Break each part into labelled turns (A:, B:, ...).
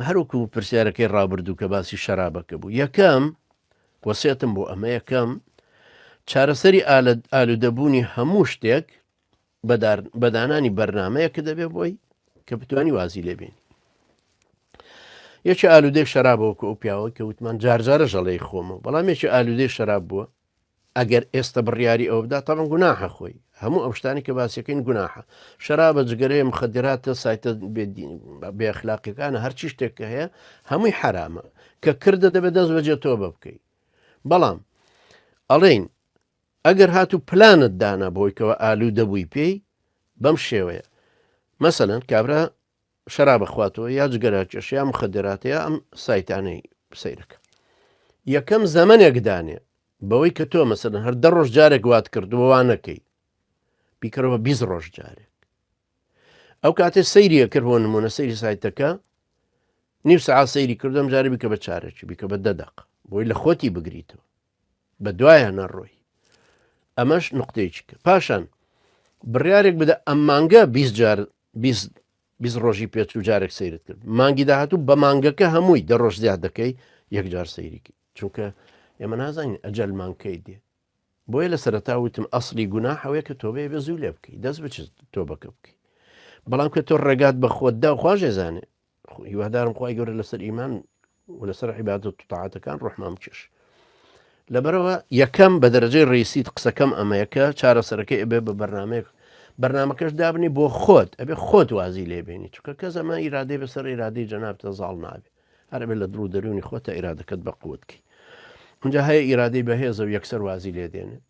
A: هەروکو پرسیارەکەی ڕابردوو کە باسی شەرابەکە بوو یەکەم وەسێتم بۆ ئەمە یەکەم چارەسەری ئالە ئالوودەبوونی هەموو شتێک بەدانانی بەرنمەیە کە دەبێ بۆی کە بتانی وازی لێبێنی یەکی ئالوودەی شەرابەوە کە ئەو پیاوە کە وتمان جارجارە ژەڵەی خۆمە بەڵام یەکی ئالوودەی شەراب بووە ئەگەر ئێستا بڕیاری ئەوە بدا تەبەن گوناحە خۆی هەموو ئەو شتانی کە باسیەکەین گوناحە شەرابە جگەرەیە مخدراتە سایتە بێخلاقیەکانە هەرچی شتێک کە هەیە هەمووی حرامە کە کردە دەبێت دەست بەجێتەوە بە بکەیت بەڵام ئەڵین ئەگەر هاتوو پلانت دانا بۆیکەوە ئالوو دەبووی پێی بەم شێوەیە مەسەەن کابرا شەراب ئەخواتەوە یا جگەراکێش یا مخدرات یا ئەم سایتانەی سەیرەکە یەکەم زەمنێک دانێ بەوەی کە تۆ مەسەن هەر دە ڕۆژ جارێک وات کردووە وانەکەی بیکەرەوە بی ڕۆژ جارێک ئەو کاتێ سەیریە کرد بۆ نمونە سەیری سایتەکە نیو سعا سەیری کردم جاربی کە بە چارێکی بیکە بە دەدەق بۆی لە خۆتی بگریتەوە بە دوایانە ڕۆی ئەمەش نقطەیەکی کە پاشان بڕارێک بدە ئەم مانگە بیست جار بیست بیست ڕۆژی پێچوو جارێک سیرت کرد مانگی داهاتوو بە مانگەکە هەمووی دە ڕۆژ زیاد دەکەی یەکجار سەیریکی چونکە ئێمە نازانین ئەجەل مانکەی دێ بۆیە لە سەرتا وتم ئەسلی گونا حەوەیە کە تۆبێ بە زوو لێ بکەی دەست بچ تۆ بەکە بکەی بەڵام کە تۆ ڕێگات بە خۆتدا و خواژێزانێ هیوادارم خوای گەورە لەسەر ئیمان و لەسەر عیبادت و تاعاتەکان ڕحمان بکێش لەبەرەوە یەکەم بە دەرەجەی ڕیسیت قسەکەم ئەمەیەکە چارەسەرەکەی ئەبێ بە بەرنمەیە بەرنمەکەش دابنی بۆ خۆت ئەبێ خۆت وازی لێبێنی چکە کە زەمە ئیرادەی بەسەر ئیرادەی جەنابتە زاڵ نابێ هەربێ لە دڵ و دەرونی خۆتە ئیرادەکەت بەقوتکی اینجا هەیە ئیرادەی بەهێزە و یەکسەر وازی لێ دێنێت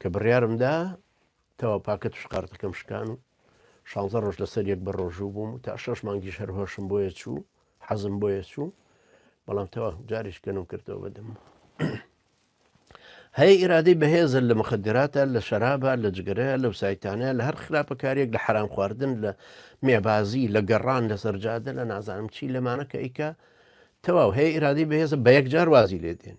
A: کە بڕیارم دا کەوا پاکەت و شقارتەکەم شکان و شانزە ڕۆژ لەسەر یەک بە ڕۆژوو بووم و تا شەش مانگیش هەر هۆشم بۆیە چوو حەزم بۆیە چوو بەڵام تەوا جاریش گەنم کردەوە بەدەم هەیە ئیرادەی بەهێزە لە مخدراتە لە شەرابە لە جگەرەیە لەو سایتانەیە لە هەر خراپەکاریەک لە حرام خواردن لە مێبازی لە گەڕان لە سەرجادە لە نازانم چی لەمانە کە ئیکە تەواو هەیە ئیرادی بەهێزە بە یەکجار وازی لێ دێن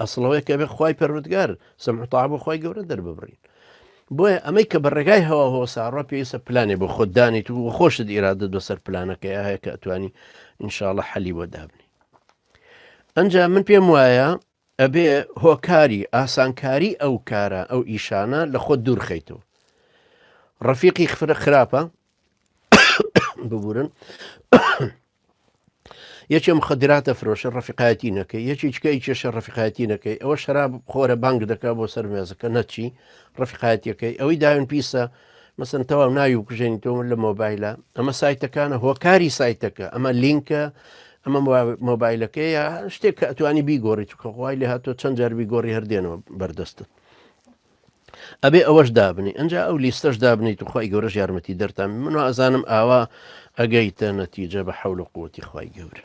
A: ئەسڵەوەیەک ئەبێ خی پەرودگار سەمحتاع بۆ خی گەورە دەرببڕین بۆیە ئەمەی کە بە ڕێگای هەوا هۆ ساڕە پێویستە پلانێ بۆ خۆدانی تو و خۆشت ئیرادە دو سەر پلانەکە هەیە کە ئەتوانی ئینشاالله حەلی بۆ دابنی ئەجا من پێم وایە ئەبێ هۆکاری ئاسانکاری ئەو کارە ئەو ئیشانە لە خۆ دوورخەیتەوە ڕەفیقی خفرە خراپە ببورن یەکێم خدراتە فرۆشە ڕفقایەتی نەکەی یەکی چکەی کێشە ڕفقایەتی نەکەی ئەوە شەراب خۆرە بانگ دەکا بۆ سەر مێزەکە نەچی ڕفقایەتەکەی ئەوەی داوێن پیسە مەسن تەواو ناوی و کوژێنی تۆم لە مۆبایلە ئەمە سایتەکانە هۆکاری سایتەکە ئەمە لینکە ئەمە مۆبایلەکەیە شتێک کە ئەتوانی بیگۆڕی چکە خخوای لە هاتۆ چەند جار بیگۆڕی هەردێنەوە بەردەستت ئەبێ ئەوەش دابنی ئەجا ئەو لیستەش دابنیت و خی گەورەش یارمەتی دەرتان من ئازانم ئاوا ئەگەیتە نەتیجە بە حول و قوتی خی گەورە